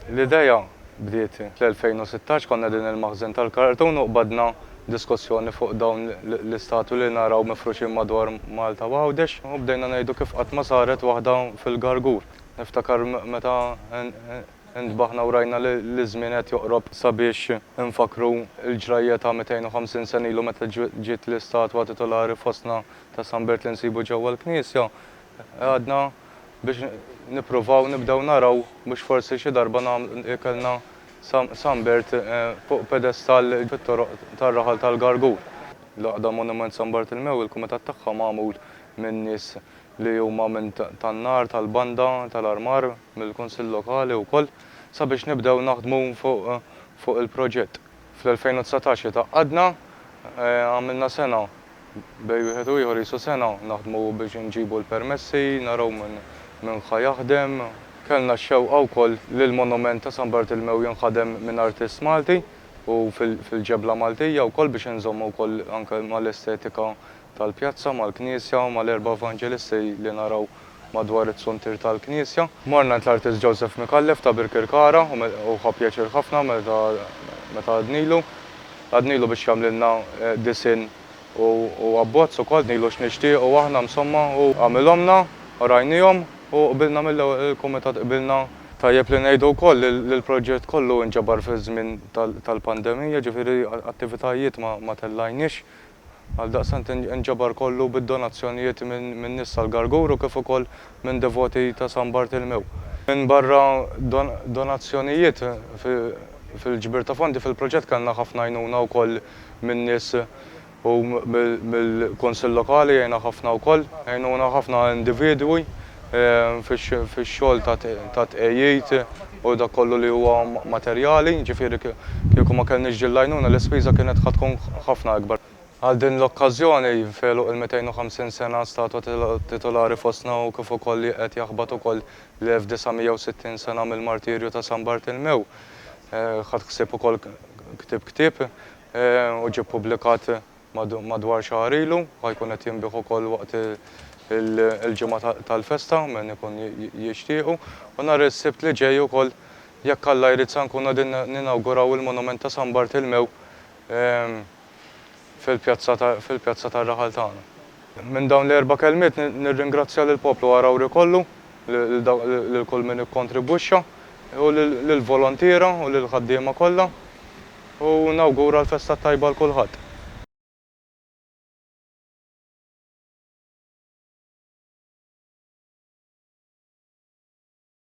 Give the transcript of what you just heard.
L-idea bdiet fl-2016 konna qegħdin il-maħżen tal-kartun u qbadna diskussjoni fuq dawn l-istatwi li naraw mifruxin madwar Malta u Għawdex u bdejna ngħidu kif qatt ma saret waħda fil-Gargur. Niftakar meta ntbaħna u rajna li ż-żmien qed joqrob sabiex infakkru l-ġrajja ta' 250 sena ilu meta ġiet l-istatwa titolari fostna ta' San Bert li nsibu ġewwa l-knisja, Għadna biex nippruvaw nibdew naraw biex forsi xi darba jkollna San Bert fuq pedestall fit-toroq tar-raħal tal-Gargur. L-għaqda Monument San Bartilmew il-kumitat tagħha magħmul minn nies li huma minn tan-nar tal-banda tal-armar mill-Kunsill Lokali wkoll sabiex nibdew naħdmu fuq il-proġett. Fl-2019 jekk tgħaqqadna, għamilna sena bejn wieħed u ieħor qisu sena naħdmu biex inġibu l-permessi, naraw min ħa jaħdem. Kellna x-xewqa wkoll li l-monument ta' San Bartilmew jinħadem minn artist Malti u fil-ġebla Maltija wkoll biex inżommu wkoll anke mal-estetika tal-pjazza mal-knisja u mal-erba' evanġelisti li naraw madwar is-suntier tal-knisja. Morna għand l-artist Joseph Micallef ta' Birkirkara u ħa pjaċir ħafna meta għadnilu. Għadnilu biex jagħmlilna disinn u abbozz ukoll, għadnilu x'nixtiequ aħna msomma u għamilhomlna u rajniehom u qbilna mill-ewwel il-kumitat qbilna. Tajjeb li ngħidu wkoll li l-proġett kollu nġabar fiż-żmien tal-pandemija, ġifieri attivitajiet ma tellajniex Għaldaqstant inġabar kollu bid-donazzjonijiet minn nies tal-Garguru kif ukoll minn devoti ta' San Bartilmew. Minbarra donazzjonijiet fil-ġbir ta' fondi fil-proġett kellna ħafna għajnuna wkoll minn nies u mill-Kunsill Lokali għena ħafna wkoll. Għenuna ħafna individwi fix-xogħol ta' tqegħid u dak kollu li huwa materjali, jiġifieri kieku ma kellniex din l-għajnuna l-ispiża kienet ħa tkun ħafna ikbar. Għal din l-okkażjoni, f'għeluq il-250 sena, statwa tat-titolari fostna hu kif ukoll li qed jaħbat ukoll l-1960 sena mill-martirju ta' San Bartilmew. Ħadt ħsieb ukoll ktieb ktieb u ġie ppubblikat madwar xahar ilu, ħa jkun qed jinbiegħ ukoll waqt il-ġimgħa tal-festa min ikun jixtiequ u nhar is-Sibt li ġej ukoll jekk Alla jrid sa nkunu qegħdin ninawguraw il-monument ta' San Bartilmew fil-pjazza tar-raħal tagħna. Minn dawn l-erba' kelmiet nirringrazzja lill-poplu Għargħuri kollu, lil kull min ikkontribwixxa u lill-volontiera u lill-ħaddiema kollha U nawgura l-festa t-tajba l kulħadd.